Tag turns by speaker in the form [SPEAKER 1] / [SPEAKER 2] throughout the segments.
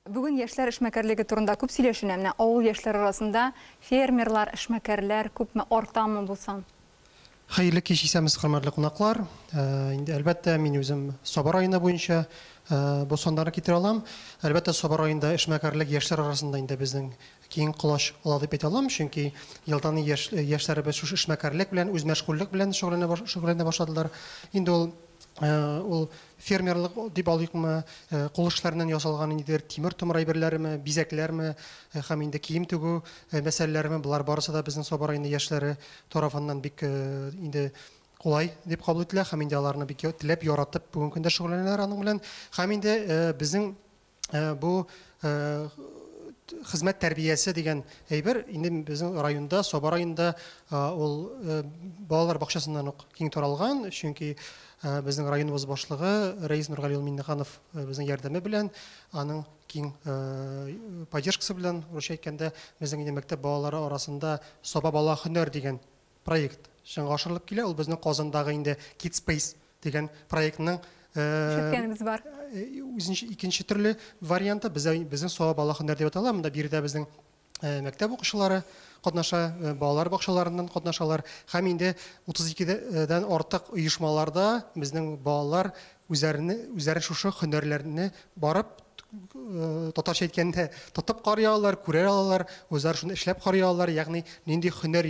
[SPEAKER 1] Бүген яшьләр эшмәкәрлеге турында күп сөйләшенә. Менә авыл яшьләре арасында фермерлар, эшмәкәрләр күпме, артамы бу сан? Хәерле
[SPEAKER 2] кич исәмез хөрмәтле кунаклар. Инде әлбәттә мин үзем Саба районы буенча бу саннарны китерә алам. Әлбәттә Саба районында эшмәкәрлек яшьләр арасында инде безнең киң колач ала дип әйтә алам, чөнки елдан ел яшьләребез шушы эшмәкәрлек белән, үзмәшгульлек белән шөгыльләнә башладылар. Инде ул Ул фермерлык дип алыйкмы, кул эшләреннән ясалган ниндидер тимер томыр әйберләреме, бизәкләрме һәм инде кием тегү мәсьәләләреме, болар барысы да безнең Саба районы яшьләре тарафыннан бик инде кулай дип кабул ителә һәм инде аларны бик теләп, яратып бүгенге көндә шөгыльләнәләр аның белән. Һәм инде безнең э, бу э, хезмәт тәрбиясе дигән әйбер инде безнең районда, Саба районында ул балалар бакчасыннан ук киң таралган, чөнки безнең районыбыз башлыгы Рәис Нургали улы Миннеханов безнең ярдәме белән, аның киң поддержкасы белән, русча әйткәндә, безнең инде мәктәп балалары арасында Саба бала һөнәр дигән Проект чынга ашырылып килә, ул безнең Казандагы инде Kids Space дигән проектның Ишеткәнебез
[SPEAKER 1] бар. үзенчә
[SPEAKER 2] икенче төрле варианты, бездә безнең Сава бала һөнәр дип атала, монда биредә безнең э, мәктәп укучылары катнаша, э, балалар бакчаларыннан катнашалар һәм инде 32 дән артык оешмаларда безнең балалар Үзләрне, үзләре шушы хөнәрләрне барып, татарча әйткәндә, тотып карый алалар, күрә алалар, үзләре шуны эшләп карый алалар, ягъни нинди хөнәр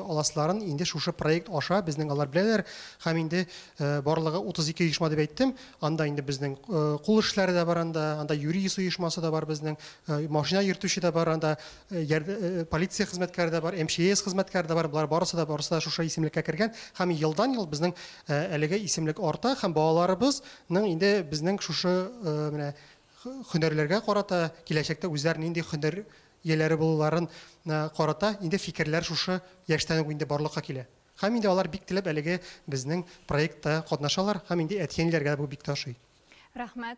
[SPEAKER 2] аласыларын инде шушы проект аша безнең алар беләләр. Һәм инде барлыгы 32 оешма дип әйттем, анда инде безнең кул эшләре дә бар анда, анда юридис оешмасы да бар безнең, машина йөртүче дә бар анда, полиция хезмәткәре дә бар, МЧС хезмәткәре дә бар. Болар барысы да барысы да шушы исемлеккә кергән һәм елдан-ел безнең әлеге исемлек арта һәм балаларыбызның инде безнең шушы менә хөнәрләргә карата киләчәктә үзләр нинди хөнәр ияләре булуларын карата инде фикерләр шушы яшьтән үк инде барлыкка килә. Һәм инде алар бик теләп әлеге безнең проектта катнашалар һәм инде әти-әниләргә
[SPEAKER 1] дә бу
[SPEAKER 2] бик тә ошый. Рәхмәт.